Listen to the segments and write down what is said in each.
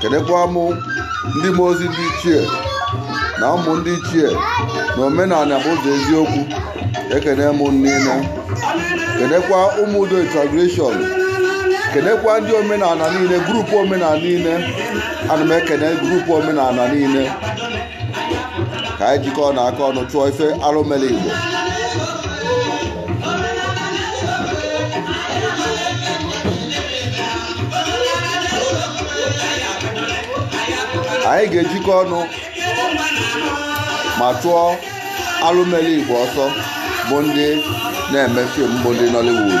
kenekwa mụ ndị mmụọ ozi ndị ichie na ụmụ ndị ichie na omenala bụ ụzọ eziokwu ekene m niile kenekwa ụmụ udo international kenekwa ndị omenala niile group omenala niile ana m ekene group omenala niile ka anyị jikọọnụ aka ọnụ chụọ ife arụ mere igbo anyị ga-ejikọ ọnụ ma chụọ arụ mere igbo ọsọ bụ ndị na-eme film bụ ndị Nollywood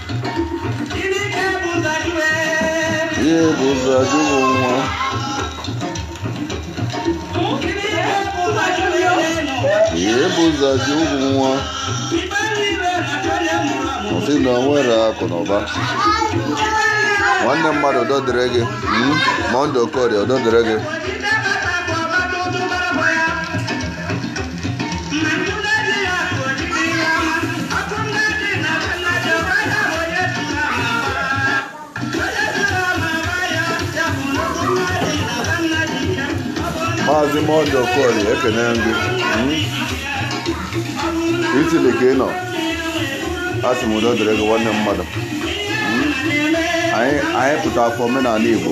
Ihe bụ ụzọ ajụghị nwa. Ihe bụ ụzọ ajụghị nwa. Ọ sị na o nwere akụ na ụba. Nwanne mmadụ udo dịrị gị. Mm, Monday Okorie udo dịrị gị. maazị monday okorie ekene m gị italy ka ị nọ asị m udo dịrị gị nwanne mmadụ anyị anyị pụtara for omenala igbo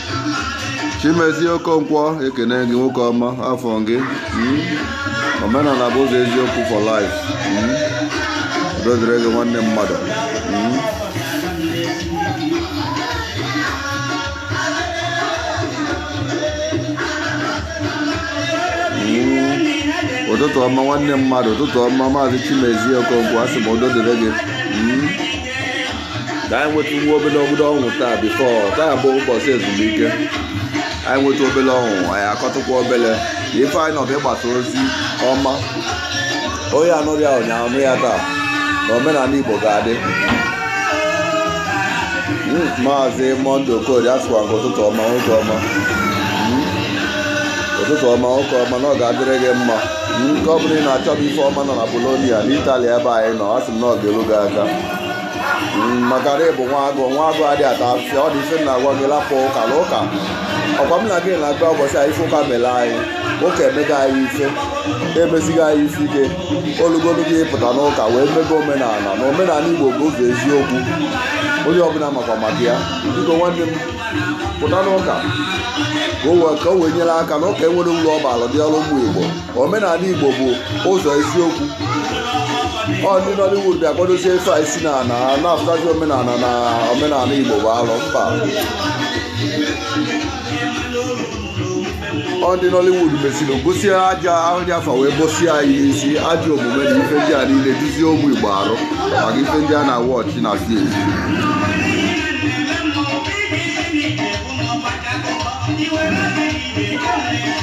chimezie okonkwo ekene m gị nwoke ọma afụ m gị hmm? omenala bụ ụzọ eziokwu for life hmm? udo dịrị gị nwanne mmadụ hmm? ụtụtụ ọma nwanne mmadụ ụtụtụ ọma maazị chimezie okonkwo asị m udo dịrị gị ka anyị nweta nwa obere ọṅụ taa before taa bụ ụbọchị ezumike anyị nweta obere ọṅụ anyị akọtụkwa obere ife anyị nọ bụ ịgbasa ozi ọma onye anụrọ ya ụnyaahụ nụ ya taa na omenala igbo ga-adị hmm, maazị monday okorie asịkwa m gị ụtụtụ ọma nwoke ọma ụtụtụ ọma nwoke ọma na ọ ga-adịrị gị mma nke ọ bụla ị na-achọba ife ọma nọ na Bologna na Italy ebe anyị nọ a sị m na ọ ga-elu gị aka maka na ị bụ nwa agụ nwa agụ adị ata afịfịa ọ dị ife m na-agwa gị lapụ ụka na ụka ọ kwa m na gị na-agụ ụbọchị a ife ụka mere anyị ụka emego anyị ife emesigo anyị ife ike o lugolu gị pụta n'ụka wee mebe omenala na omenala igbo bụ ụzọ eziokwu onye ọbụla makwa maka ya biko nwanne m pụta n'ụka ka o wee ka o wee nyere aka na ụka enwerọ uru ọ baara dị ọrụ ụmụ igbo omenala igbo bụ ụzọ eziokwu ọ ndị nollywood bịa kwadozie ife a isi na na na-afụtazi omenala na omenala igbo bụ alụ mba ọ ndị nollywood mesiri gosi aja ahụ dị afa wee gosi anyị isi ajọ omume na ife ndị a niile duzie ụmụ igbo arụ maka ife ndị a na-awatch na film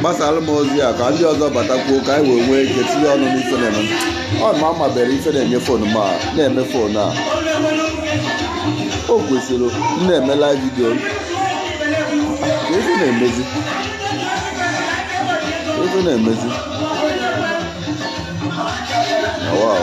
gbasaara m ozi a ka ndị ọzọ batakwuo ka anyị wee nwee ike tinye ọnụ n'ife na-eme ọ mụ amabere ife na-enye fon m na-eme fon a o kwesịrị na-eme live video ka ife na-emezi ife na-emezi wow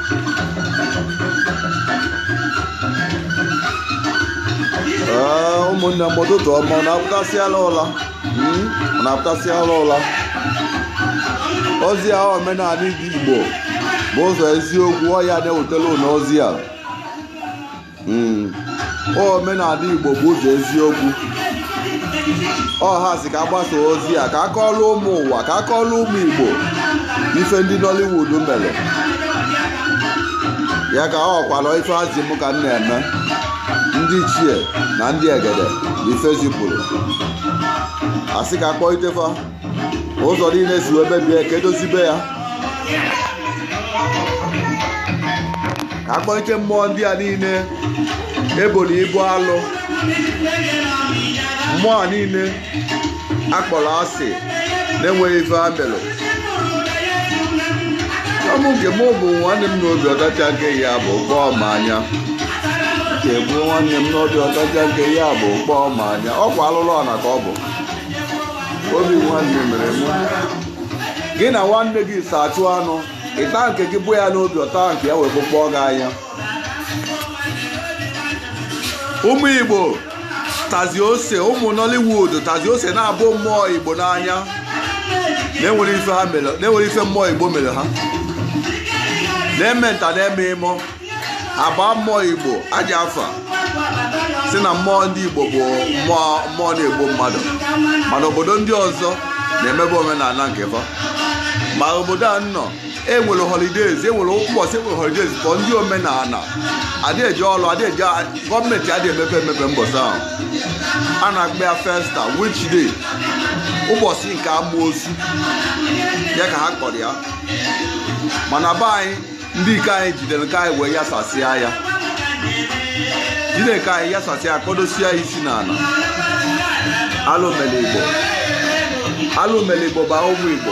ụmụnne m ụtụtụ ọma unu apụtasịala ụla hmm? unu apụtasịala ụla ozi a omenala ndị Igbo bụ ụzọ eziokwu ọ ya na-ewetelụ unu ozi a hmm. omenala igbo bụ ụzọ eziokwu ọ ya sị ka agbasaa ozi a ka akọọlụ ụmụ ụwa ka akọọlụ ụmụ igbo ife ndị nollywood mere ya ka ọ kwalụ ife ha zi m ka m na-eme ndị ichie na ndị egede na ife zipụrụ a sị ka akpọite fa ụzọ niile esi wee mebie ka edozibe ya ka akpọlite mmụọ ndị a niile eboro ibu alụ mmụọ a niile akpọrọ asị na-enweghị ife ha melụ ọ mụ nke mụ bụ nwanne m n'obi ọ tachaa nke ya bụkpọọ m anya nke m bụ nwanne m n'obi ọ tachaa nke ya bụkpọọ m anya ọ kwa alụlụ ana ka ọ bụ obi nwanne mere mụ gị na nwanne gị so achụ anụ ị taa nke gị bụ ya n'obi ọ taa nke ya wee bụkpọọ gị anya ụmụ igbo tazi ose ụmụ nollywood tazi ose na-abụ mmụọ igbo n'anya na-enwere ife mmụọ igbo mere ha na-eme nta na-eme imo a baa mmụọ igbo ajọ afa sị na mmụọ ndị igbo bụ mmụọ na-egbu mmadụ mana obodo ndị ọzọ na-emebe omenala nke fa ma obodo a nọ enwere holidays enwere ụbọchị enwere holidays for ndị omenala adị eje ọrụ adị eje gọọmenti adị emepe emepe mbọsị ahụ a na-akpọ ya festa witch day ụbọchị nke amoosu ya ka ha kpọrọ ya mana be anyị ndị ike anyị jidere nke anyị wee yasasịa ya jide nke anyị yasasịa ya kpọdosie ya isi n'ala alụ mele igbo bụ ụmụ igbo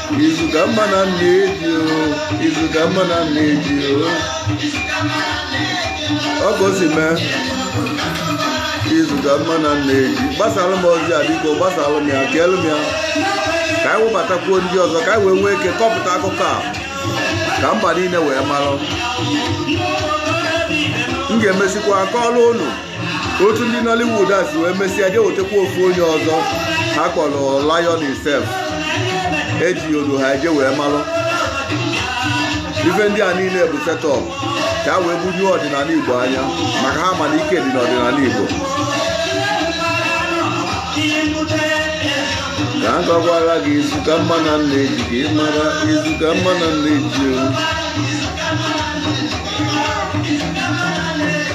izu ka mma na nne ji o izu ka mma na nne ji o ọ ka o si mee izu ka mma na nne ji gbasara m ozi a biko gbasara m ya keelu m ya ka anyị webatakwuo ndị ọzọ ka anyị wee nwee ike kọpụta akụkọ a ka mba niile wee marụ m ga-emesikwa akọọlụ unu otu ndị Nollywood a si wee mesịa je wetakwa ofu onye ọzọ ha kpọrọ Lion himself eji olu ha eje wee malụ ife ndị a niile bụ setup ka a wee bunye ọdịnala Igbo anya maka ha ma na ike dị n'ọdịnala Igbo ka m gwakwara gị izu ka mma na nne ji ka ị mara izu ka mma na nne ji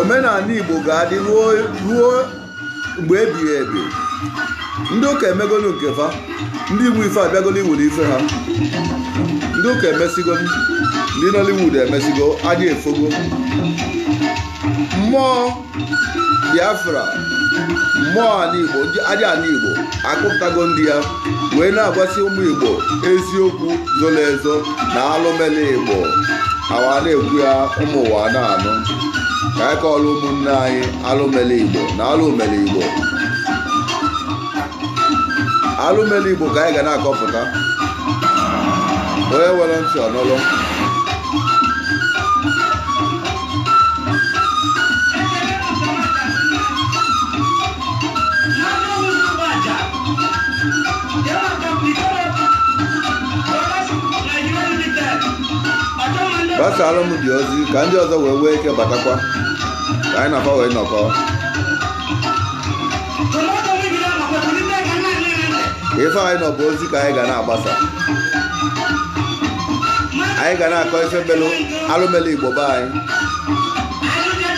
omenala igbo ga-adị ruo mgbe ebighị ebi ndị ụka emegolu nke fa ndị igbo ife abịagolu iwere ife ha ndị ụka emesigo ndị nollywood emesigo chi efogo mmụọ biafra mmụọ ala igbo aja ala igbo akụpụtago ndị ya wee na-agwasị ụmụ igbo eziokwu zoro ezo na alụ mele igbo awa na-ekwu ya ụmụ ụwa na-anụ ka anyị kọọrọ ụmụnne anyị alụ mele igbo na alụ mele igbo alụ mele igbo ka anyị ga na-akọpụta onye nwere ntị ya nụlụ gbasaara m dị ozi ka ndị ọzọ wee nwee ike batakwa ka anyị na-akọ wee nọkọ ife anyị nọ bụ ozi ka anyị ga na-agbasa anyị ga na-akọ ife melụ alụ mele igbo be anyị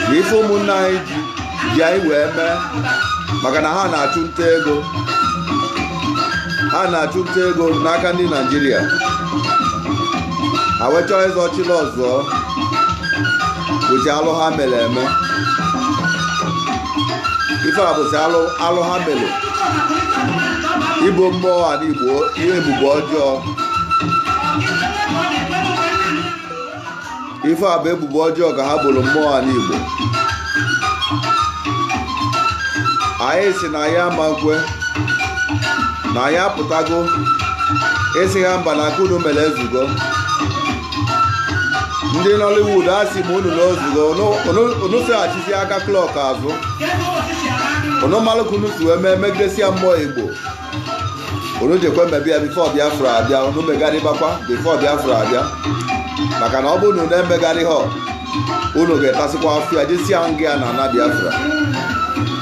na ife ụmụnne anyị ji anyị wee mee maka na ha na-achụ nta ego ha na-achụ nta ego n'aka ndị naịjirịa ha wee chọọ izochi nsọ bụzi alụ ha mere eme ife a bụzi alụ ha mere ibo mmụọ ala igbo ihe ebubo ọjọọ ife a bụ ebubo ọjọọ ka ha boro mmụọ ana Igbo anyị sị na anyị ama nkwe na anyị apụtago ịsị ha mba na aka unu mere ezugo ndị Nollywood asị m unu na o zugo unu seghachizi aka klọk azụ unu malụ ka unu si wee mee megidesia mmụọ Igbo unu jekwe mebie ya bifo biafra abịa unu megharịbakwa bifo biafra abịa maka na ọ bụrụ na unu emegharịhọ unu ga-etasịkwa afịa jesia nga na ana biafra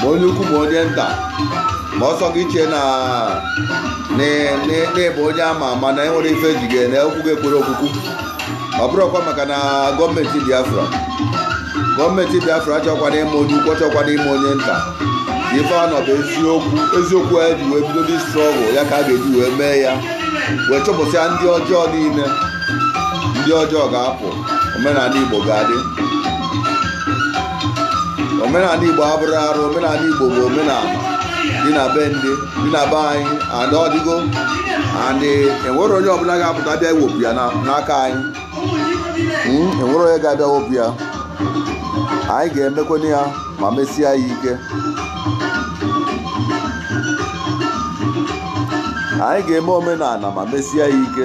ma onye ukwu ma onye nta ma ọ sọ gị chee na ị bụ onye ama ama na enwere ife ji ga-ene okwu ga-ekwere okwukwu ọ bụrụkwa maka na gọọmenti biafra gọọmenti biafra achọkwana ịma onye ukwu achọkwana ịma onye nta ife a nọ bụ eziokwu e ji wee bido the struggle ya ka a ga-eji wee mee ya wee chụpụsịa ndị ọjọọ niile ndị ọjọọ ga-apụ omenana igbo ga-adị omenana igbo abụrọ arụ omenana igbo bụ omenana dị na be ndị dị na be anyị and ọ dịgo and enwerọ onye ọbụla ga-apụta bịa iwepụ ya n'aka anyị hmm, enwerọ onye ga-abịa wepụ ya anyị ga-emekwana ya ma mesie ya ike anyị ga-eme omenana ma mesie ya ike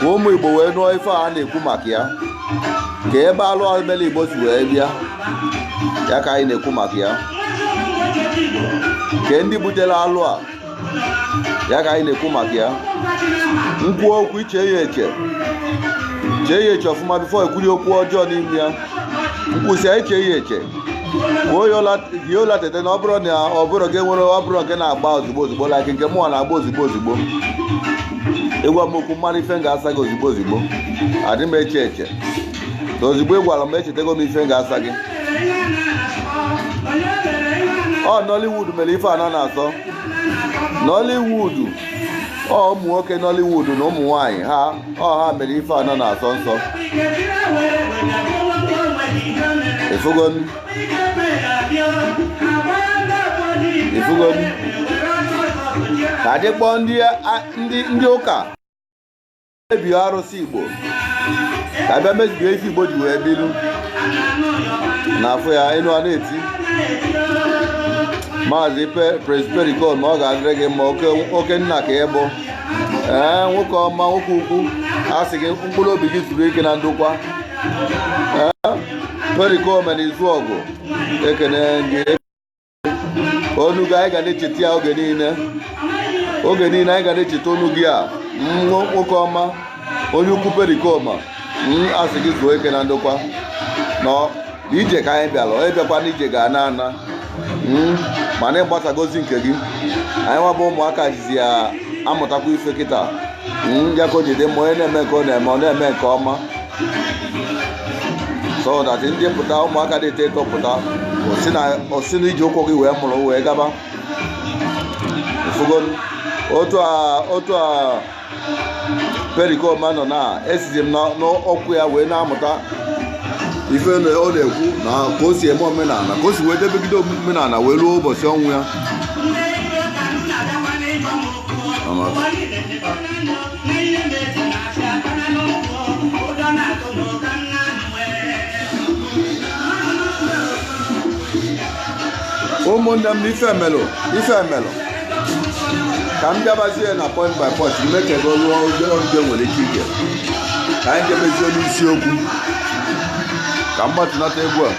ka ụmụ igbo wee nụọ ife a na-ekwu maka ya ka ebe alụ a e mere igbo si wee bịa ya ka anyị na-ekwu maka ya ka ndị butere alụ a ya ka anyị na-ekwu maka ya m kwuo okwu i chee ya eche chee ya eche ọfụma bifo i kwuri okwu ọjọọ n'ime ya m kwusịa i chee ya eche kwuo ya ụla tete na ọ bụrụ na ọ bụrọ gị nwere ụbụrụ nke na-agba ozigbo ozigbo like nke mụwa na-agba ozigbo ozigbo ị gwa m okwu m mara ife m ga-asa gị ozigbo ozigbo adị m eche eche na ozigbo ị gwara m echetego m ife m ga-asa gị ọ Nollywood mere ife ana na-asọ Nollywood ọ ụmụ nwoke Nollywood na ụmụ nwanyị ha ọ ha mere ife ana na-asọ nsọ ị fụgo ị fụgo ka e ji kpọ ndị ụka mebie arụsị igbo ka a bịa mebie ife igbo ji wee bilu na afọ ya enu a na-eti maazị Prince Pericoma ọ ga-adịrị gị mma oke nna ka ị bụ ee nwoke ọma nwoke ukwu a sị gị mkpụrụ obi gị zuru ike na ndokwa perikoma na izuọgụ ekene gị onu gị anyị ga na-echeta ya oge niile oge niile anyị ga na-echeta onu gị a nwoke ọma onye ukwu perikoma mm, asị gị zuo ike na ndokwa na ije ka anyị bịara onye bịakwa na ije ga-ana ana mm, mana ị gbasago ozi nke gị anyịnwa bụ ụmụaka jizi ya amụtakwa ife kịta mm, ya ka o ji dị mma onye na-eme nke ọ na-eme ọ na-eme nke ọma so that ndị pụta ụmụaka dị eto eto pụta o si na o si na ije ụkwụ gị wee mụrụ wee gaba Ị fụgo otu a otu a perikoma nọ na esizi m na- n'okwu ya wee na-amụta ife na ọ na-ekwu na ka o si eme omenala ka o si wee debegide omenala wee ruo ụbọchị ọnwụ ya Ama. ụmụnne m ife e melụ ife e melụ ka m bịabazie na point by point ime ka ebe ruo obere oge nwere ike ige ka anyị jebezie n'isiokwu ka m gbatunata egwu a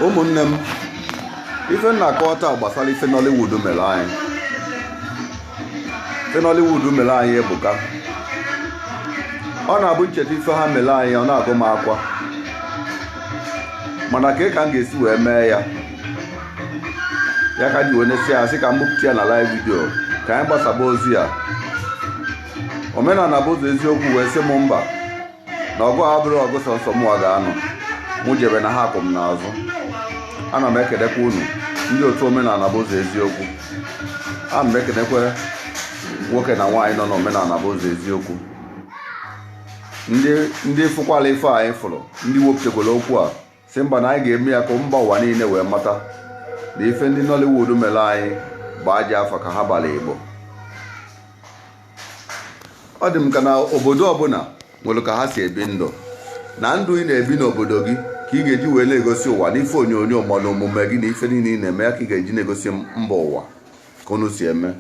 ụmụnne m ife m na-akọwa taa gbasara ife Nollywood mere anyị ife Nollywood mere anyị ebuka ọ na-abụ m cheta ife ha mere anyị ọ na-agụ m akwa mana ka ka m ga-esi wee mee ya ya ka m ji wee nesịa sị ka m bupụta ya na live vidio ka anyị gbasaba ozi ya omenala bụ ụzọ eziokwu wee sị m mba na ọgụ a abụrọ ọgụ sọnsọ mụwa ga-anụ mụ jebe na ha kwụ m n'azụ ana m ekelekwa unu ndị otu omenala bụ ụzọ eziokwu ana m ekelekwa nwoke na nwaanyị nọ n'omenala bụ ụzọ eziokwu ndị ndị fụkwalụ ife anyị fụrụ ndị wepụtakwara okwu a sị mba na anyị ga-eme ya ka mba ụwa niile wee mata na ife ndị Nollywood mere anyị bụ ajọ afa ka ha bara Igbo ọ dị m ka na obodo ọbụla nwere ka ha si ebi ndụ na ndụ ị na-ebi n'obodo gị ka ị ga-eji wee na-egosi ụwa n'ife onyonyo ma na omume gị na ife niile ị na-eme ya ka ị ga-eji na-egosi mba ụwa ka unu si eme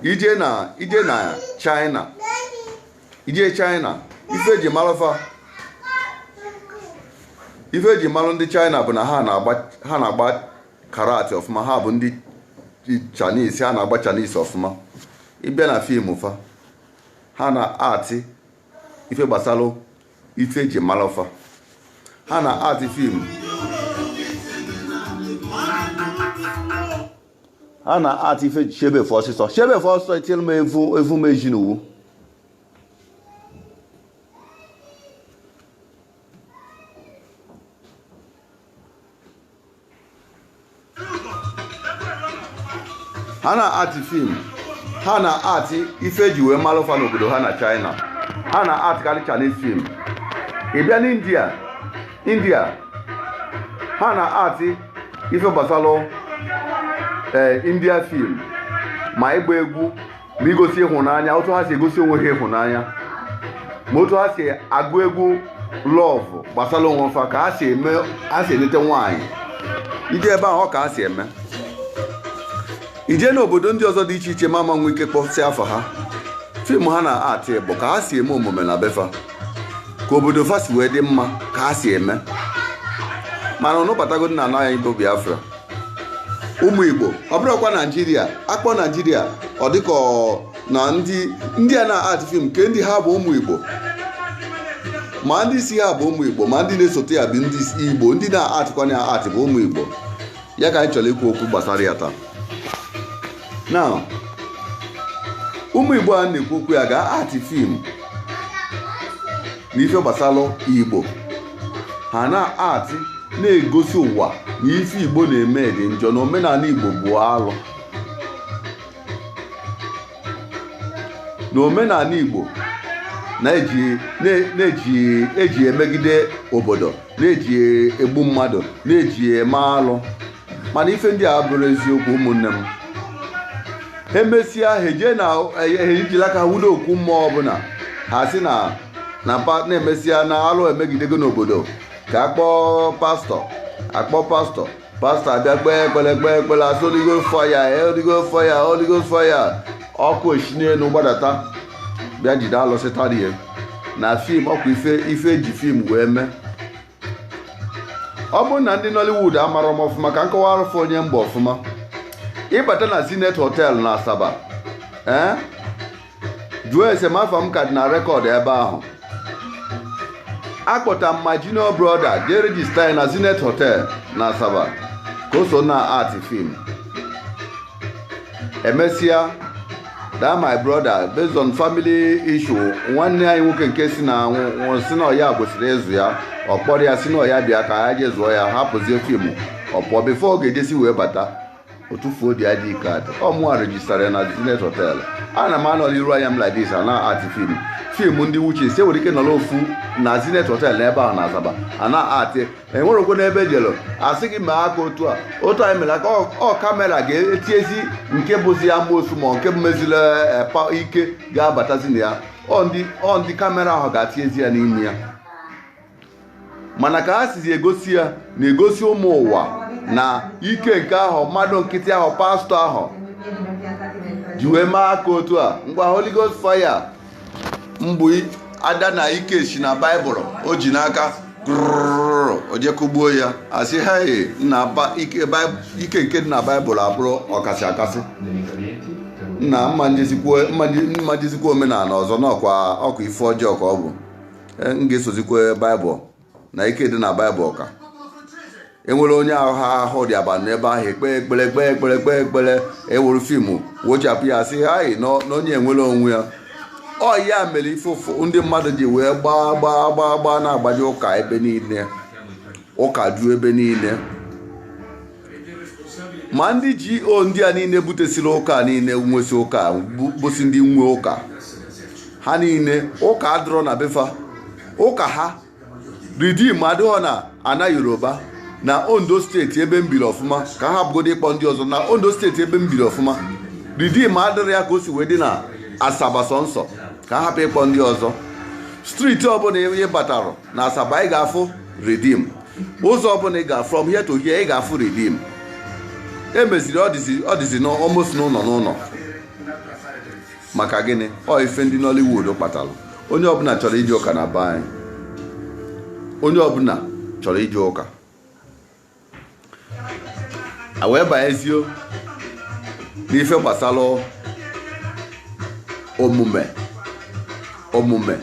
ị jee na ị jee na China ị jee china ife e ji malụ fa ife e ji malụ ndị china bụ na ha na-agba ha na-agba karate ọfụma ha bụ ndị chinese ha na-agba chinese ọfụma ị bịa na fim fa ha na-act ife gbasalụ ife e ji malụ fa ha na-act fim a na act ife chebe efe ọsịsọ chebe efe ọsịsọ etinyere m evu evu m eji n'uwu ha na act fim ha na act ife eji wee mara fa n'obodo ha na china ha na actkarị chinese fim ị bịa n'india india ha na act ife gbasara ee eh, india film ma ịgba egwu ma igosi ịhụnanya otu ha si egosi onwe ha ịhụnanya ma otu ha si agụ egwu love gbasara onwe fa ka ha si eme ha si eleta nwaanyị i jee ebe ahụ ọ ka ha si eme i jee n'obodo ndị ọzọ dị iche iche m ama nwe ike kpọsịa afa ha fim ha na act bụ ka ha si eme omume na befa ka obodo fa si wee dị mma ka ha si eme mana unu batagodị na ana anyị bụ biafra ụmụ igbo ọ bụrụkwa naijiria a kpọọ naijiria ọ dịka na ndị ndị a na-act film nke ndị ha bụ ụmụ igbo ma ndị isi ha bụ ụmụ igbo ma ndị na-esote ya bụ ndị igbo ndị na-actkwanụ ya act bụ ụmụ igbo ya ka anyị chọrọ ikwu okwu gbasara ya taa na ụmụ igbo a na-ekwu okwu ya gaa act fim na ife gbasara igbo ha na-act na-egosi ụwa na ife igbo na-eme dị njọ na omenala igbo bụ alụ na omenala Igbo na-eji eji emegide obodo na-eji egbu mmadụ na-eji eme alụ mana ife ndị a abụrọ eziokwu ụmụnne m ha emesịa ha ejee na ejiri aka wudo okwu mmụọ ọbụla ha si na na na-emesịa na alụ emegidego n'obodo ka a kpọọ pastọ a kpọọ pastọ pastọ abịa kpee ekpere kpee ekpere a sị Holy Ghost fire Holy Ghost fire Holy Ghost fire ọkụ esi n'elu gbadata bịa jide alụsị tarie na fim ọ kwa ife ife eji fim wee mee ọ bụrụ na ndị Nollywood amarọ m ọfụma ka m kọwaarụ fa onye m bụ ọfụma ị bata na Zenith Hotel na Asaba ee eh? jụọ ese m afa m ka dị na record ebe ahụ akpọta m my junior brother jee register ya na zenith hotel na asaba ka o so na act fim emesịa that my brother based on family issue nwanne anyị nwoke nke si na nwụrụ sị na ọ ya kwesịrị ịzụ ya ọ kpọrọ ya sị na ọya bịa ka ya jee zụọ ya hapụzie fim ọ pụọ before ọ ga-ejesi wee bata o tufuo the ID card ọ mụa rejistara ya na Zenith Hotel ana m anọ n'iru anya m like this ana act film film ndị witches enwere ike nọrọ ofu na Zenith Hotel n'ebe ahụ na Asaba ana act enwerekwe n'ebe jelu asị gị mee aka otu a otu a m mere aka ọ- ọ kamera ga-etiezi nke bụzi amosu ma nke meziri eh, pa- ike ga-abatazi na ya ọ ndị ọ ndị kamera ahụ ga-atiezi ya n'ime ya mana ka ha sizi egosi ya na-egosi ụmụ ụwa na ike nke ahụ mmadụ nkịtị ahụ pastọ ahụ ji wee mee aka otu a ngwa Holy Ghost fire mbụ ada na ike si na baịbụl o ji n'aka o je kugbuo ya asị hei ike nke dị na baịbụl abụrụ ọkasị akasị na mma m jezikwa omenala ọzọ n'ọkwa ọkwa ife ọjọọ ka ọ bụ Eh, m ga-esozikwa baịbụl na ike dị na baịbụl ka enwere onye ahụ ha ahụ dị aba n'ebe ahụ ekpe ekpere ekpe ekpere ekpe ekpere eweru fiimu wechapụ ya sị hai na onye enwere onwe ya ọ ya mere ife ụfụ ndị mmadụ ji wee gbaa gbaa gbaa gbaa na-agbaje ụka ebe niile ụka ju ebe niile ma ndị GO ndị a niile butesiri ụka niile nwesị ụka bụsị ndị nwe ụka ha niile ụka adịrọ na befa ụka ha Redeem adịrọ na ana yoruba na ondo steeti ebe m biri ọfụma ka a hapụgodu ịkpọ ndị ọzọ na ondo steeti ebe m biri ọfụma Redeem adịrọ ya ka o si wee dị na asaba sọnsọ ka a hapụ ịkpọ ndị ọzọ streeti ọbụla ị batara na asaba ị ga-afụ redeem ụzọ ọbụla ị ga from here to here ị ga-afụ redeem emeziri ọ dịzi almost n'ụlọ n'ụlọ maka gịnị ọ ife ndị Nollywood kpatara onye ọbụla chọrọ ije ụka na be anyị onye ọbụla chọrọ ije ụka a wee banyezie n'ife gbasara omume omume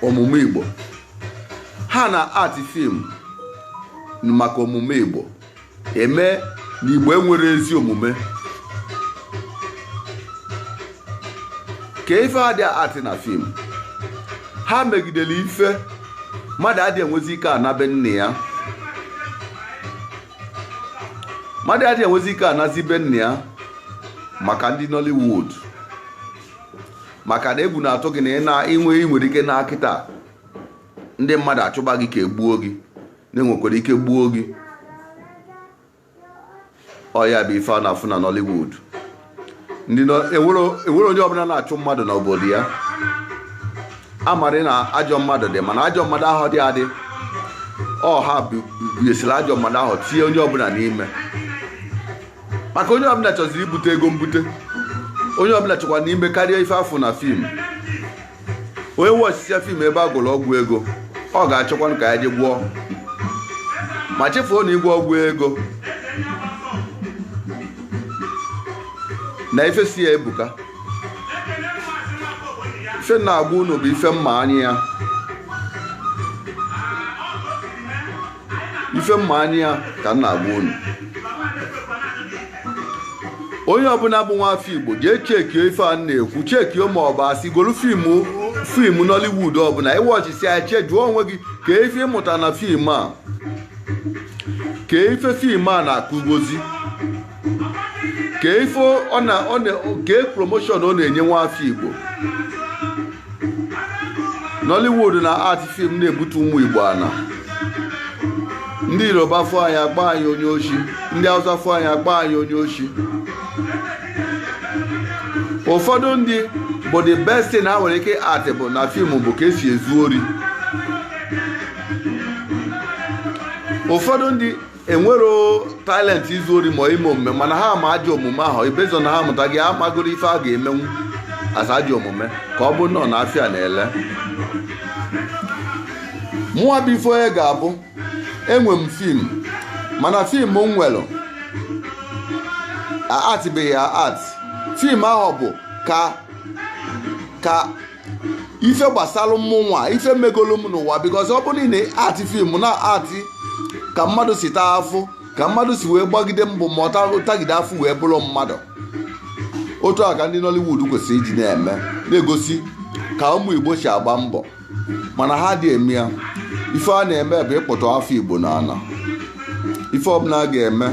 omume igbo ha na act fim maka omume igbo eme na igbo enwere ezi omume ka ife adị act na fim ha megidere ife mmadụ adị enwezi ike ana be nne ya mmadụ adị enwezi ike anazi be nne ya maka ndị Nollywood maka na egwu na-atụ gị na ị na-enwe ị nwere ike naa kịta ndị mmadụ achụba gị ka egbuo gị na enwekwara ike gbuo gị ọ ya bụ ife a na-afụ na Nollywood ndị enwere onye ọbụla na-achụ mmadụ n'obodo ya amarị na ajọ mmadụ dị mana ajọ mmadụ ahụ dị adị ọha biesiri ajọ mmadụ ahụ tinye onye ọbụla n'ime maka onye ọbụla chọziri ibute ego mbute onye ọbụla chọkwanụ ime karịa ife a fụ na fim onye wọchisịa fim ebe a gwọrọ ọgwụ ego ọ ga-achọkwanụ ka ya je gwọọ ma chefuo na ịgwọ ọgwụ ego na ife so ya ebuka ife m na-agwa unu bụ ife m ma anya ya ife m ma anya ya ka m na-agwa unu onye ọbụla bụ nwa afọ igbo jee chekie ife a m na-ekwu chekie ma ọ bụ asị golu fim nollywood ọbụla ị wọchisịa ya che jụọ onwe gị kee ife ị mụta na fim a kee ife fim a na-akụgozi kee ife ọ na ọ na kee promotion ọ na-enye nwa afọ igbo nollywood na-act film na-ebute ụmụ igbo ana ndị yoruba fụ anyị agba anyị onye oshi ndị hausa fụ anyị agba anyị onye oshi ụfọdụ ndị bụ the best thing ha nwere ike act bụ na fim bụ ka esi ezu ori ụfọdụ ndị enwero talent izu ori ma ime omume mana ha ma ajọ omume ahụ ibezo na ha mụta gị amagoro ife a ga-emenwu as ajọ omume ka ọ bụ nọ na afịa na-ele mụwa bụ ife onye ga-abụ enwe m fim mana fim m nwere actịbeghị ya act fim ahụ bụ ka ka ife gbasara mmụnwa ife megolu m n'ụwa bikọs ọ bụrụ na ị na-act fim na-act ka mmadụ si taa afụfụ ka mmadụ si wee gbagide mbọ ma tagide afụfụ wee bụrụ mmadụ otu a ka ndị Nollywood kwesịrị iji na-eme na-egosi ka ụmụ Igbo si agba mbọ mana ha adị eme ya ife a na-eme bụ ịkpụtu afọ Igbo n'ana ife ọbụla a ga-eme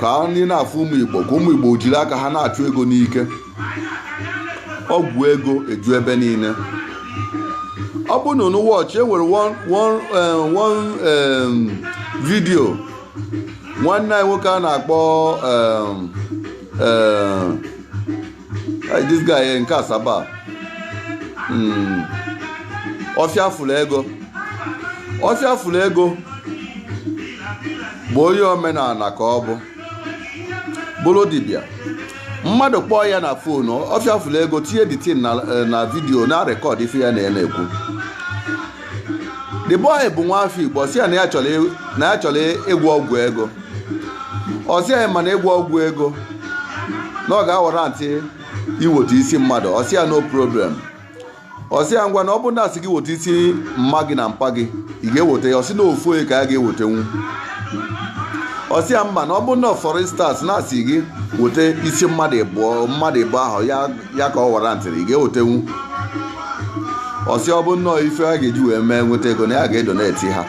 ka ndị na-afụ ụmụ igbo ka ụmụ igbo jiri aka ha na-achụ ego n'ike ọgwụ ego eju ebe niile ọ bụ na unu wọchie e nwere one eh, vidio nwanne anyị nwoke a na-akpọ eh, Hey, this guy eh, nke asaba Mm. ọfịa fụrụ ego ọfịa fụrụ ego bụ onye omenana ka ọ bụ bụrụ dibịa mmadụ kpọọ ya na fon ọfịa fụrụ ego tinye the thing na eh, na vidiyo na-arekọd ife ya na ya na-ekwu the boy bụ nwa afọ igbo ọ sị ya na ya chọrọ e- na ya chọrọ e- ịgwọ ọgwụ ego ọ sị ya mana ịgwọ ọgwụ ego na ọ ga-awarantị iweta isi mmadụ ọ sị ya no problem ọ sị ya ngwa na ọ bụrụ na a sị gị weta isi mma gị na mpa gị ị ga-eweta ya ọ sị na ofu onye ka ya ga-ewetenwu ọ sị ya mana ọ bụrụ na for instance na a sị gị weta isi mmadụ ịbụọ mmadụ ịbụọ ahụ ya ya ka ọ warantịrị ị ga-ewetenwu ọ sị ọ bụ nnọọ ife a ga-eji wee mee nweta ego na ya ga-edoneti ha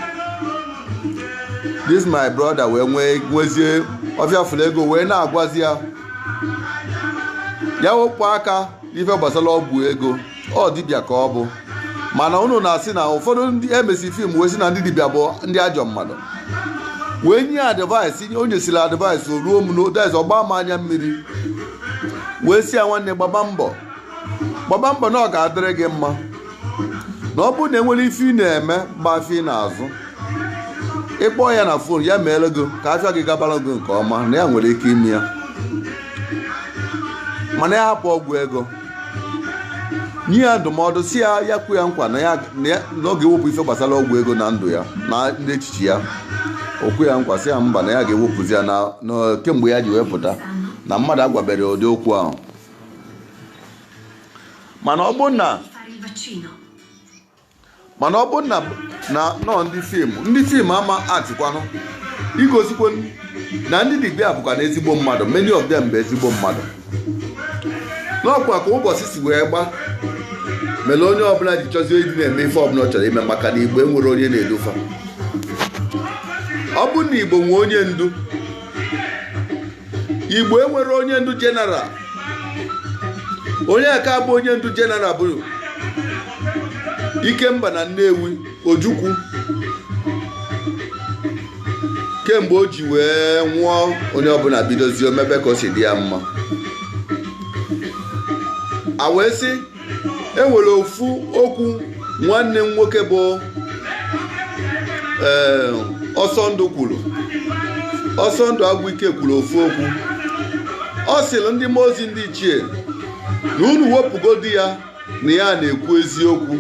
this my brother wee nwee nwezie ọfịa fụrụ ego wee na-agwazi ya ya wepụ aka ife gbasara ọgwụ ego ọ dibịa ka ọ bụ mana unu na-asị na ụfọdụ ndị emesi fim wee sị na ndị dibịa bụ ndị ajọ mmadụ wee nye advaịsị o nyesịrị advaịsị o ruo m n'odaiz ọ gbaa m anya mmiri wee sị ya nwanne gbaba mbọ gbaba mbọ na ọ ga-adịrị gị mma na ọ bụrụ na e nwere ife ị na-eme ma ọ bụ afịa ị na-azụ ị kpọọ ya na fon ya meere gị ka afịa gị gabara gị nke ọma na ya nwere ike ime ya mana ya hapụ ọgwụ ego nye ya ndụmọdụ sị ya ya kwe ya nkwa na ya na ya- na ọ ga-ewepụ ife gbasara ọgwụ ego na ndụ ya na n'echiche ya o kwe ya nkwa sị ya mba na ya ga-ewepụzi ya na na kemgbe ya ji wee pụta na mmadụ agwaberọ ụdị okwu ahụ mana ọ bụrụ na mana ọ bụrụ na na ọ ndị fim ndị fim ama atịkwanụ igosikwa na ndị dibịa bụkwanụ ezigbo mmadụ many of them bụ ezigbo mmadụ na ọ kwa ka ụbọchị si wee gba mere onye ọbụla ji chọzie ịdị na-eme ife ọbụla ọ chọrọ ime maka na igbo enwerọ onye na-edu fa ọ bụ na igbo nwee onye ndu igbo enwerọ onye ndu jeneral onye aka abụ onye ndu jeneral bụ ikemba na nnewi ojukwu kemgbe o ji wee nwụọ onye ọbụla bidozie o mebe ka o si dị ya mma a wee sị e nwere ofu okwu nwanne m nwoke bụ eh, ọsọ ndụ kwuru ọsọ ndụ agwụike kwuru ofu okwu ọ sịrị ndị mmụọ ozi ndị ichie na unu wepụgodi ya na ya na-ekwu eziokwu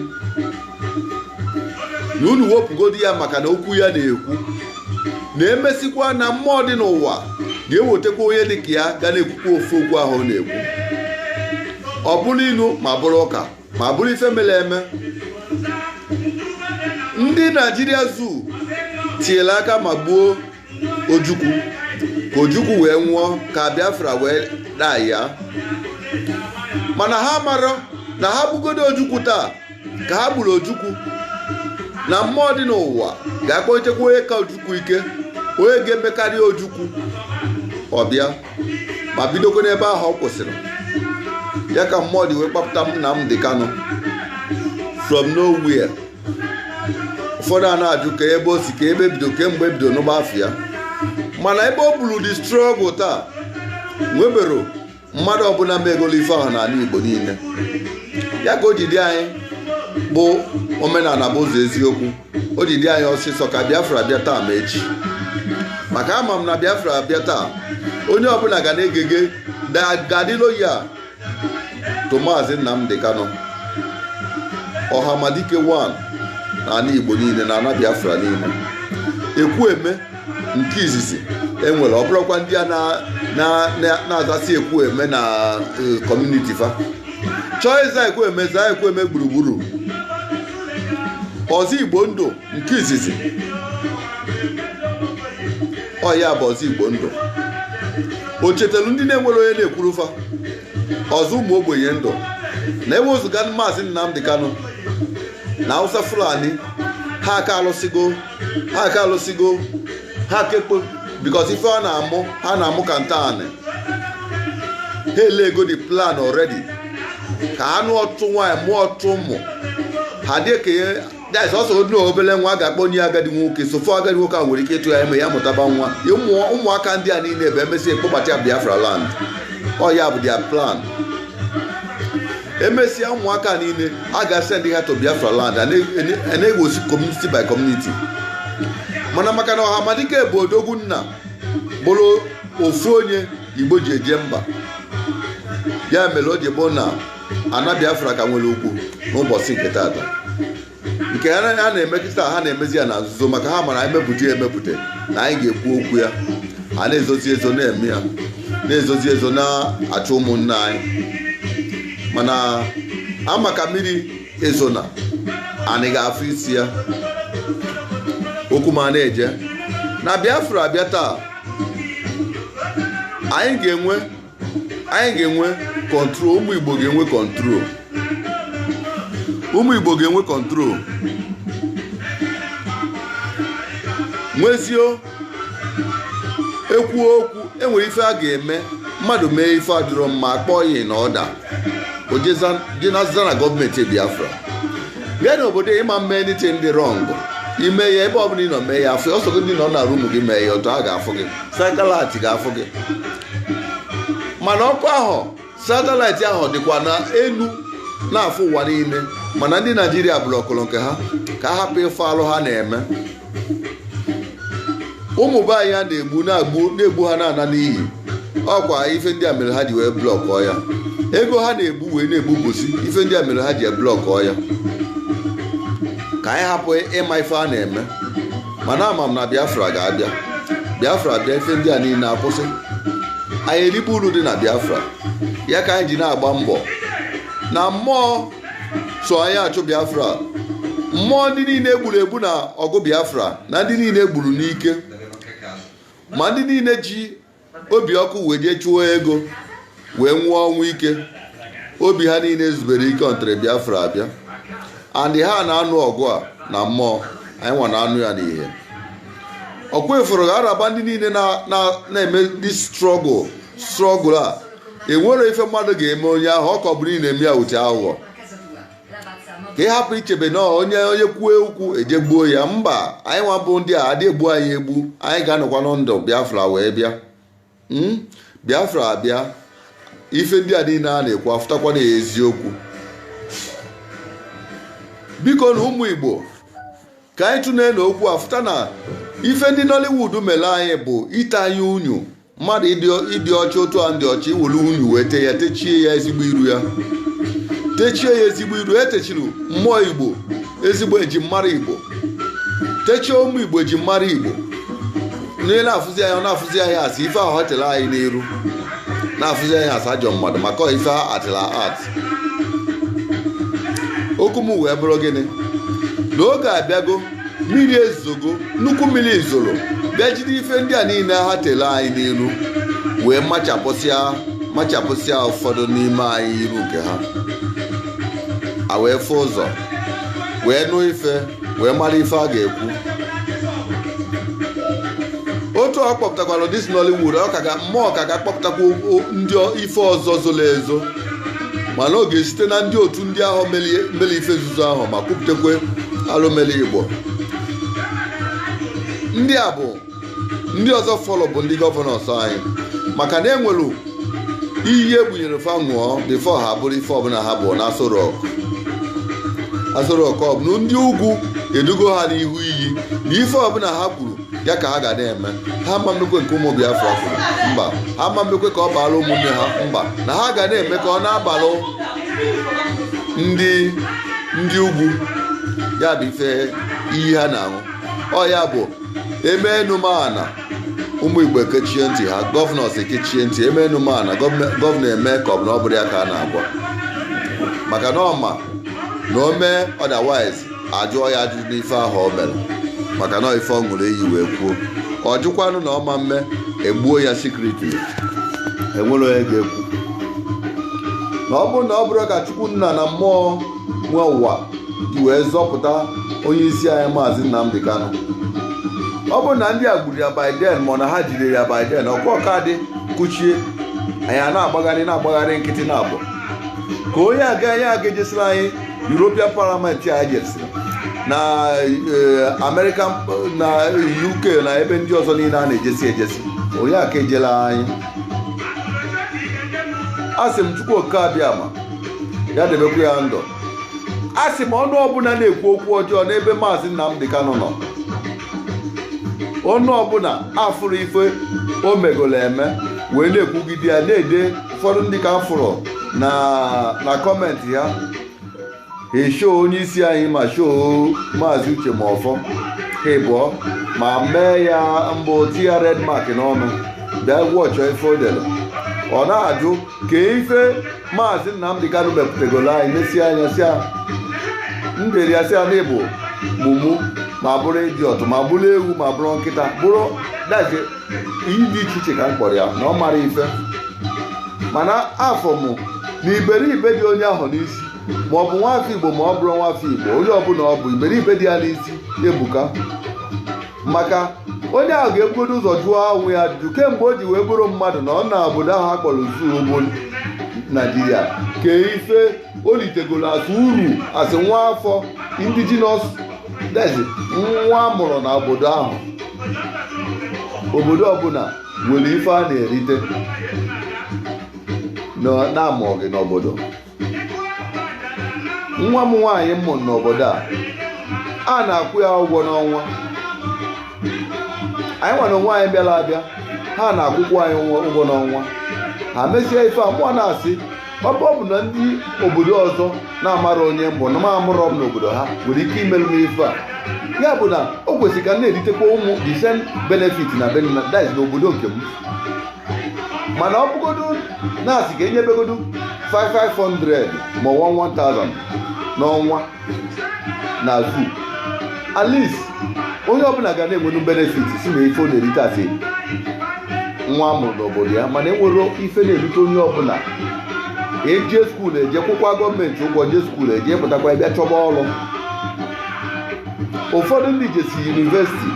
na unu wepụgodi ya maka na okwu ya na-ekwu na emesikwa na mmụọ dị n'ụwa ga-ewetakwa onye dị ka ya ga na-ekwukwa ofu okwu ahụ ọ na-ekwu ọ bụrụ ilu ma bụrụ ụka ma bụrụ ife mere eme ndị naijiria zoo tinyere aka ma gbuo ojukwu ka ojukwu wee nwụọ ka biafra wee daa ya mana ha marọ na ha gbugodo ojukwu taa ka ha gburu ojukwu na mmụọ dị n'ụwa ga-akpọlitekwa onye ka ojukwu ike onye ga-emekarị ojukwu ọ bịa ma bidokwa n'ebe ahụ ọ kwụsịrị ya ka mmụọ ji wee kpapụta nnamdi kanu from nowhere ụfọdụ a na-ajụ ka ebe o si ka ebe bido kemgbe ebido n'ụba afọ ya mana ebe o buru the struggle taa nwebero mmadụ ọbụla megolo ife ahụ n'ala Igbo niile ya ka o ji dị anyị bụ omenala bụ ụzọ eziokwu o ji dị anyị ọsịsọ ka Biafra bịa taa ma echi maka ama m na Biafra bịa taa onye ọbụla ga na-egege ga-adị loyal to Maazị Nnamdi Kanu Ọhamadike 1 na ana Igbo niile na ana Biafra niile Ekwueme nke izizi e nwere ọ bụrụkwa ndị a na-azasị Ekwueme na e, community fa chọọ ịza Ekwueme zaa Ekwueme gburugburu ọzọ Igbo ndụ nke izizi ọ ya bụ ọzọ igbo ndụ o chetelu ndị na-enwerọ onye na-ekwuru fa ọzọ ụmụ ogbenye ndụ na ewezụga maazị Nnamdi Kanu na Hausa Fulani ha aka alụsịgo ha aka alụsịgo ha kekpo because ife ha na-amụ ha na-amụ ka ntaanị ha elego the plan already ka ha nụọ ọtụtụ nwaanyị mụọ ọtụtụ ụmụ ha dị ekenye that's also odu obele nwa ga-akpọnye agadi nwoke so far agadi nwoke ahụ nwere ike ịtụ ya ime ya mụtaba nwa Ya ụmụ- ụmụaka ndị a niile bụ emesịa a kpọbata ya biafra land ọ ya bụ their plan emesịa ụmụaka a niile a ga-asend ha to biafra land a na- a na-egbusi community by community mana maka na ọhamadike bụ odogwu nna bụrụ ofu onye igbo ji eje mba ya mere o ji bụ na ana biafra ka nwere ụkwụ n'ụbọchị nke tata nke ha na- ha na-eme kịta ha na-emezi ya na nzuzo maka ha mara ha mepụta ya emepụta na anyị ga-ekwu okwu ya a na-ezozi ezo na-eme ya na-ezozi ezo na-achụ ụmụnne anyị mana ama ka mmiri ezo na anyị ga-afụ isi ya okwu m a na-eje na biafra bịa taa anyị ga-enwe anyị ga-enwe kọntrol ụmụ igbo ga-enwe kọntrol ụmụ igbo ga-enwe kọntrol nwezio ekwuo okwu enwere ife a ga-eme mmadụ mee ife adịrọ mma akpọọ ya na ọda o jee na-aza na gọọmenti biafra bịa n'obodo ịma mee anything dị wrong i mee ya ebe ọbụla ị nọ mee ya afọ ọ sọ gị nọ na rumu gị mee ya otu a ga-afụ gị satelaịtị ga-afụ gị mana ọkụ ahụ satelaịtị ahụ dịkwa na elu na-afụ ụwa niile mana ndị naijiria blọkụrụ nke ha ka a hapụ ịfụ alụ ha na-eme ụmụ be anyị a na-egbu na-egbu ha na-ana n'iyi ọkwa ife ndị a mere ha ji wee blọkụọ ya ego ha na-ebu wee na-egbu bosi ife ndị a mere ha ji blọkụọ ya ka anyị hapụ ịma ife a na-eme mana ama m na biafra ga-abịa biafra bịa ife ndị a niile akwụsị anyị eribe uru dị na biafra ya ka anyị ji na-agba mbọ na mmụọ so anyị achụ biafra mmụọ ndị niile e gburu egbu na ọgụ biafra na ndị niile e gburu n'ike ma ndị niile ji obi ọkụ wee jee chụọ ego wee nwụọ ọnwụ ike obi ha niile ezubero ike until biafra abịa andị ha na-anụ ọgụ a na mmụọ anyị nwa na-anụ ya n'ihe ọkwa efuru ga-araba ndị niile na- na- na-eme dis strọgụl a enwere ife mmadụ ga-eme onye ahụ ọ kọbụrụ ị na-eme ya uche aghụghọ ka ị hapụ ichebe na onye onye kwuo okwu e jee gbuo ya mba anyị nwa bụ ndị a adị egbu anyị egbu anyị ga-anọkwa na ndụ biafra wee bịa hmm? biafra abịa ife ndị a niile a na-ekwu afụtakwa na eziokwu biko na ụmụ igbo ka anyị tụlee na okwu afụta na ife ndị nollywood mere anyị bụ ite anyị unyi mmadụ ịdị ọcha otu anyị dị ọcha i were unyi wee tee ya techie ya ezigbo iru ya techie ya ezigbo iru e techiri mmụọ igbo ezigbo eji mara igbo techie ụmụ igbo eji mara igbo onye na-afụzi anyị ọ na-afụzi anyị as ife ahụ ọ tere anyị n'iru na-afụzi anyị as ajọ mmadụ maka ife ha actịrị act okwu m wee bụrụ gịnị na oge abịago mmiri ezogo nnukwu mmiri zoro bịa jide ife ndị a niile ha tere anyị n'iru wee machapụsịa machapụsịa ụfọdụ n'ime anyị iru nke ha a wee fụ ụzọ wee nụ ife wee mara ife a ga-ekwu otu ọ kpọpụtakwara dis Nollywood ọ ka ga mmụọ ka ga-akpọpụtakwa o- o- ndị ọ- ife ọzọ zoro ezo mana ọ ga-esite na ndị otu ndị ahụ mere ife nzuzo ahụ ma kwupụtakwa alụ mere igbo ndị a bụ ndị ọzọ fọlọ bụ ndị gọvanọs anyị maka na enwere iyi egbunyere fa ṅụọ before ha bụrụ ife ọbụla ha bụ na Aso Rock ọ bụ ndị ugwu edugo ha n'ihu iyi na ife ọbụla ha kwuru ya ka ha ga na-eme ha ma mmekwe nke ụmụ Biafra kwuru mba ha ma mmekwe ka ọ baala ụmụnne ha mba na ha ga na-eme ka ọ na-abalụ ndị ndị ugwu ya bụ ife iyi ha na-aṅụ ọ ya bụ e mee enu ma ana ụmụ igbo ekechie ntị ha gọvanọs ekechie ntị e mee enu ma ana gọvanọ eme ka ọ bụ na ọ bụrọ ya ka a na-agwa maka na ọ ma na o mee otherwise ajụọ ya ajụjụ n'ife ahụ o mere maka na ife ọ ṅụrụ iyi wee kwuo ọ jụkwanụ na ọ ma mme egbuo ya secretly enwere onye ga-ekwu na ọ bụrụ na ọ bụrọ ka chukwu nna na mmụọ nwe ụwa ji wee zọpụta onye isi anyị maazị Nnamdi Kanu ọ bụrụ na ndị a gburu ya by then ma na ha jidere ya by then ọkwa ọka dị kụchie anyị a na-agbagharị na-agbagharị nkịtị na abụọ ka onye aga anyị aga ejesila anyị European Parliament a jesiri na eh, American na UK na ebe ndị ọzọ niile a na-ejesi ejesi onye aka ejela anyị asị m Chukwu oke abịama ya debekwa ya ndụ asị m ọnụ ọbụla na-ekwu okwu ọjọọ n'ebe maazị Nnamdi Kanu nọ ọnụ ọbụla afụrụ ife o megolo eme wee na-ekwugide ya na-ede ụfọdụ ndị ka afụrụ na kọmentị ya eshoo onye isi anyị ma shoo maazị Uche Mefor ha ịbụọ ma mee ya mbụ tinye red mark n'ọnụ bịa gụọcha ife o dere ọ na-ajụ kee ife maazị Nnamdi Kanu mepụtagoro anyị n'esi anya si m dere ya sị ya na ị bụ mumu ma bụrụ idiot ma bụrụ ewu ma bụrụ nkịta bụrụ that is iyi dị iche iche ka m kpọrọ ya na ọ mara ife mana afụ mụ na iberibe dị onye ahụ n'isi ma ọ bụ nwafọ igbo ma ọ bụrọ nwafọ igbo onye ọbụla ọ bụ iberibe dị ya n'isi ebuka maka onye ahụ ga-ebugodo ụzọ jụọ onwe ya ajụjụ kemgbe o ji wee bụrụ mmadụ nọọ na obodo ahụ a kpọrọ zoo bụ naijiria kee ife o litegoro as uru as nwa afọ indigenous that is nwa amụrụ na obodo ahụ obodo ọbụla nwere ife a na-erite na a mụọ gị n'obodo nwa m nwaanyị m mụrụ n'obodo a a na-akwụ ya ụgwọ n'ọnwa anyị nwa na onwe anyị bịara abịa ha na-akwụkwọ anyị ụgwọ- ụgwọ n'ọnwa ha mesie ife a mụwa na-asị ọ bụ ọ bụ na ndị obodo ọzọ na-amarọ onye m bụ na ma amụrọ m n'obodo ha nwere ike imere m ife a ya bụ na o kwesịrị ka m na-eritekwa ụmụ the same benefit na benefit that is n'obodo nke m mana ọ bụgodu na a sị ka e nyebegodu 500 ma 1000 n'ọnwa na zu at least onye ọbụla ga na-enwenu benefit sị nee ife ọ na-erite as nwa a mụrụ n'obodo ya mana enwerọ ife a na-erite onye ọbụla eje skuul eje kwụkwa gọọmenti ụgwọ je skuul eje pụtakwa bịa chọba ọrụ ụfọdụ ndị jesị yunivesiti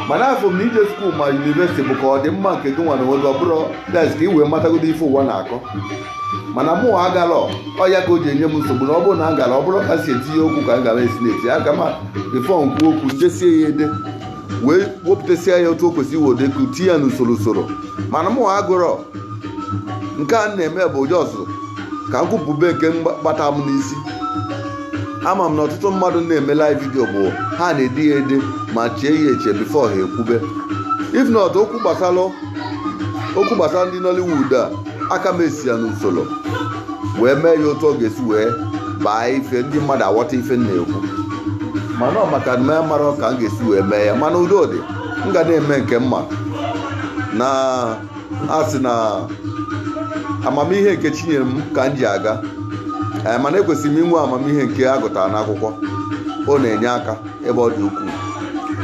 mana afụ m na ije skuul ma yunivesiti bụ ka ọ dị mma nke gị nwa na onwe gị ọ bụrọ that is ka i wee matagodo ife ụwa na-akọ mana mụwa agarọ ọ ya ka o ji enye m nsogbu na ọ bụrụ na m gara ọ bụrọ ka m si etinye okwu ka m gara esi na-eti aka m bifọ m kwuo okwu m desie ya ede wee wepụtasịa ya otu o kwesịrị in order ka tinye ya n'usoro usoro mana mụwa agụrọ nke a m na-eme bụ just ka m kwupụbe nke gbata m n'isi ama m na ọtụtụ mmadụ na-eme live vidio bụ ha na-ede ya ede ma chee ya eche bifo ha ekwube if not okwu gbasara okwu gbasara ndị Nollywood a aka m esi ya n'usoro wee mee ya otu ọ ga-esi wee baa ife ndị mmadụ aghọta ife m na-ekwu mana ọ maka na m amarọ ka m ga-esi wee mee ya mana udo dị m ga na-eme nke m ma na a sị na amamihe nke chi nyere m ka m ji aga ee mana ekwesịrị m inwe amamihe nke a gụtara n'akwụkwọ ọ na-enye aka ebe ọ dị ukwuu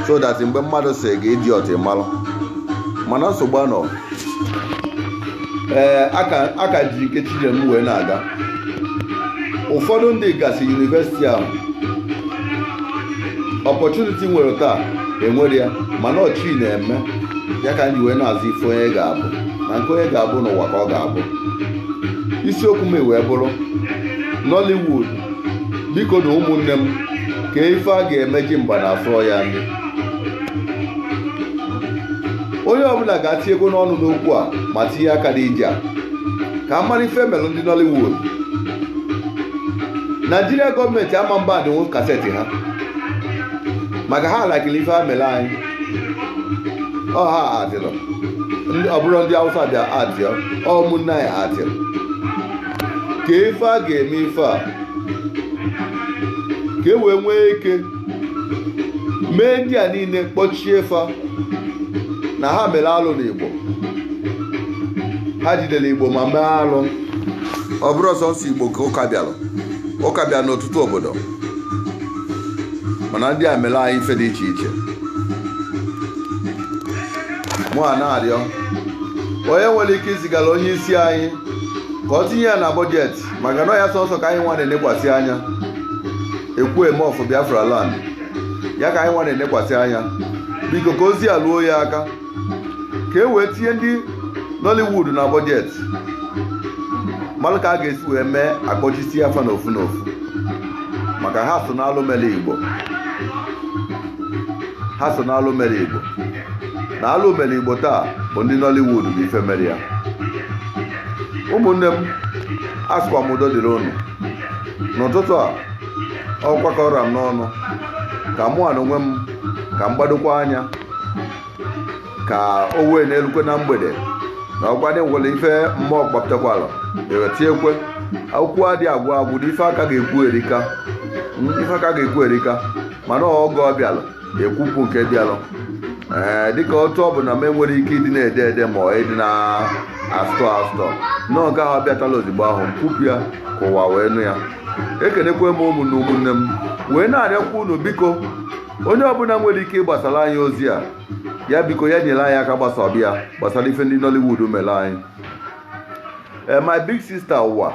so that mgbe mmadụ sị gị idiot ị malụ mana nsogbu anọ ee a ka m ji nke chi nyere m wee na-aga ụfọdụ ndị gasị yunivesiti ahụ opportunity m nwere taa enwerọ ya mana ọ chi na-eme ya ka m ji wee na-asị ife onye ga-abụ na nke onye ga-abụ n'ụwa ka ọ ga-abụ isiokwu m wee bụrụ Nollywood bikonu ụmụnne m kee ife a ga-eme ji mgba na afọ ya onye ọbụla gaa tinyegodu ọnụ n'okwu a ma tinye aka n'ije a ka a mara ife melụ ndị Nollywood naijiria gọọmenti ama mba adịnwu kaseti ha maka ha alakili ife ha mere anyị ọ ha actịrị ọ bụrọ ndị awụsa bịa actịa ọ ụmụnne anyị actịrị kee ife a ga-eme ife a ka e wee nwee ike mee ndị a niile kpọchie afa na ha mere alụ n'igbo ha jidere igbo ma mee alụ ọ bụrọ sọsọ igbo ka ụka bịara ụka bịara n'ọtụtụ obodo mana ndị a mere anyị ife dị iche iche mụ a na-arịọ onye nwere ike izigara onye isi anyị ka o tinye ya na bọjetị maka na ọ ya sọsọ ka anyị nwa na-enekwasị anya ekwueme of biafra land ya ka anyị nwa na-enekwasị anya biko ka ozi a luo ya aka ka e wee tinye ndị nollywood na bọjetị mara ka a ga-esi wee mee akpọchisi afa n'ofu n'ofu maka ha so n'alụ mere igbo ha so n'alụ mere igbo na alụ mere igbo taa bụ ndị nollywood bụ ife mere ya ụmụnne m asụkwa m udo dịrị unu n'ụtụtụ a ọkwa ka ọ ra m n'ọnụ ka mụ a n'onwe m ka m gbadokwa anya ka o wee na-elukwe na mgbede na ọkwa ndị nwere ife mmụọ gbapụtakwala ewetiekwe akụkọ adị agwụ agwụ na ife a ka ga-ekwu erika ife a ka ga-ekwu erika mana oge ọ bịalụ ekwupụ nke bịalụ ee dịka otu ọ bụ na m enwerọ ike ịdị na-ede ede ma ọ ịdị na-astore astore na nke ahụ ọ bịatalụ ozigbo ahụ m kwupụ ya ka ụwa wee nụ ya ekenekwe m ụmụnna ụmụnne m wee na-arịọkwa unu biko onye ọbụla nwere ike ịgbasara anyị ozi a ya biko ya nyere anyị aka gbasaba ya gbasara ife ndị Nollywood mere anyị Eh, my big sister ụwa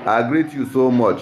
I greet you so much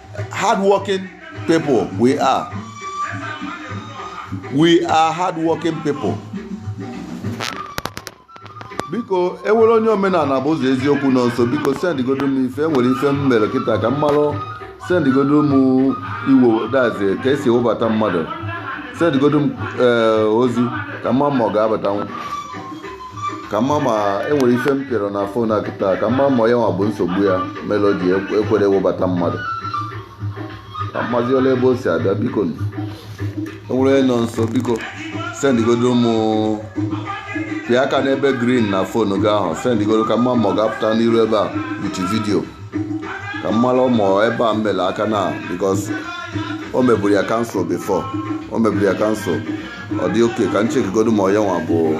hardworking people we are we are hardworking people biko enwere onye omenala bụ ụzọ eziokwu nọ nso biko sendgodo m ife enwere ife m mere kịta ka m marụ sendgodo m iwo that's ka e si ewebata mmadụ sendgodo m eh, ozi ka m ma ma ọ ga-abatanwu ka m ma ma enwere ife m pịara na phone a kịta ka m ma ma ya nwa bụ nsogbu ya melụ o ji ekwerọ ewebata mmadụ ka m mazi ole ebe o si abịa biko nụ. enwere onye nọ nso biko sendigodo m pịa aka n'ebe green na phone gị ahụ sendigodo ka m ma ma ọ ga-apụta n'iru ebe a with video ka m malụ ma ebe a m mele aka na because o meburu ya cancel before o meburu ya cancel ọ dị okay ka m checkigodo ma onye nwa bụ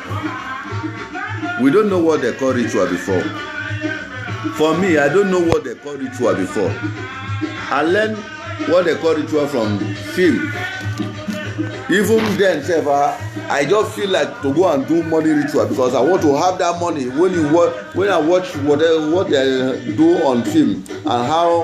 we don't know what they call ritual before for me i don't know what they call ritual before i learn what they call ritual from film even then sef i i just feel like to go and do money ritual because i want to have that money when you watch when i watch what they, what they do on film and how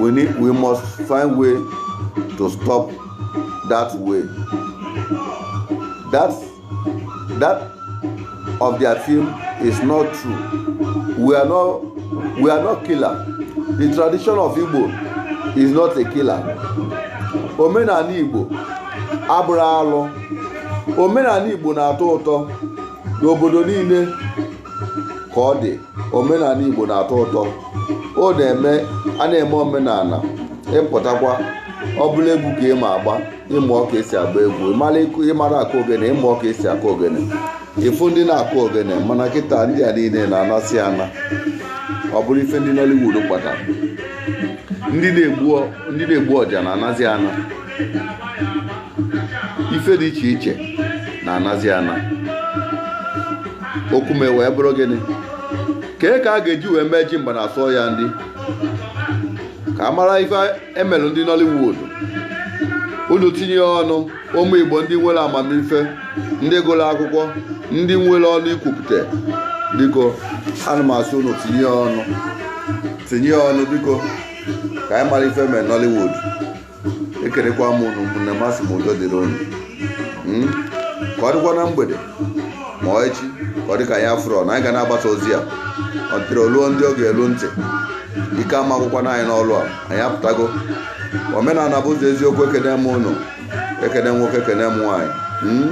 we need we must find way to stop that way that that of their film is not true we are not we are not killer the tradition of igbo is not a killer omenani igbo abụrọ alụ omenana igbo na-atọ ụtọ n'obodo niile ka ọ dị omenana Igbo na-atọ ụtọ o na-eme a na-eme omenana ị pụtakwa ọ bụrụ egwu ka ị ma agba ị mụọ ka esi agba egwu ịmara ịmara akụ ogene ị mụọ ka esi akụ ogene ị fụ ndị na-akụ ogene mana kịta ndị a niile na-anazi ana ọ bụrụ ife ndị Nollywood kpatara ndị na-egbu ọja na-anazi ana ife dị iche iche na-anazi ana okwu m wee bụrụ gịnị kee ka a ga-eji wee mee ji mgbe na asọ ya ndị ka a mara ife emelụ ndị Nollywood unu tinye ọnụ ụmụ Igbo ndị nwelụ amamife ndị gụlụ akwụkwọ ndị nwelụ ọnụ ikwupụta biko ana m asị unu tinye ọnụ tinye ọnụ biko ka anyị mara ife emelụ Nollywood ekenekwa m ụnụ ụmụnne m asị m udo dịrị unu hmm? ka ọ dịkwa na mgbede ma ọ echi ka ọ dị ka anyị afụrọ na anyị ga na-agbasa ozi a ọ dịrị o luo ndị ọ ga-elu ntị ike ama agwụkwanụ anyị n'ọlụ a anyị apụtago omenana bụ ụzọ eziokwu ekene m ụnụ ekene nwoke ekene m nwaanyị hmm?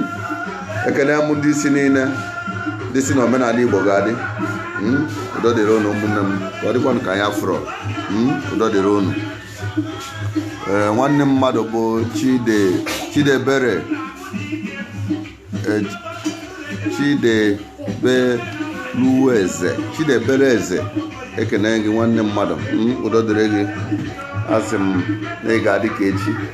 ekene m ndị isi niile ndị sị na omenana igbo ga-adị hmm? udo dịrị ụnụ ụmụnne m ka ọ dịkwanụ ka anyị afụrọ udo dịrị ụnụ ee eh, nwanne mmadụ bụ chide chidiebere eh, chidebelueze chidiebere eze ekene gị nwanne mmadụ hmm, udo dịrị gị asị m na ị ga-adị ka echi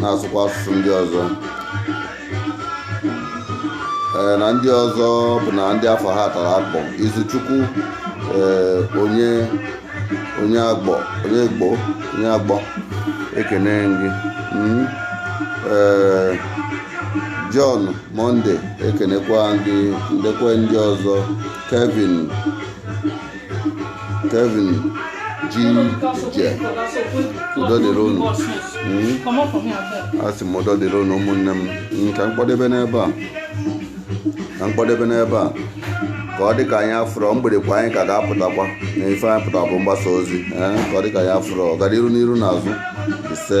na-asụkwa asụsụ ndị ọzọ ee na ndị ọzọ bụ na ndị afa ha tara akpụ izuchukwu ee onye onye agbọ onye gbo onye agbọ ekene gị Mm. ee John Monday ekenekwa gị ndekwa ndị ọzọ Kevin Kevin Jije udo dịrị unu asị m udo dịrị unu ụmụnne m ka m kpọdebe n'ebe a ka m kpọdebe n'ebe a ka ọ dị ka anyị afụrọ mgbede kwa anyị ka ga-apụtakwa na ife anyị pụtara bụ mgbasa ozi ka ọ dị ka anyị afụrọ ọganiru n'iru n'azụ ise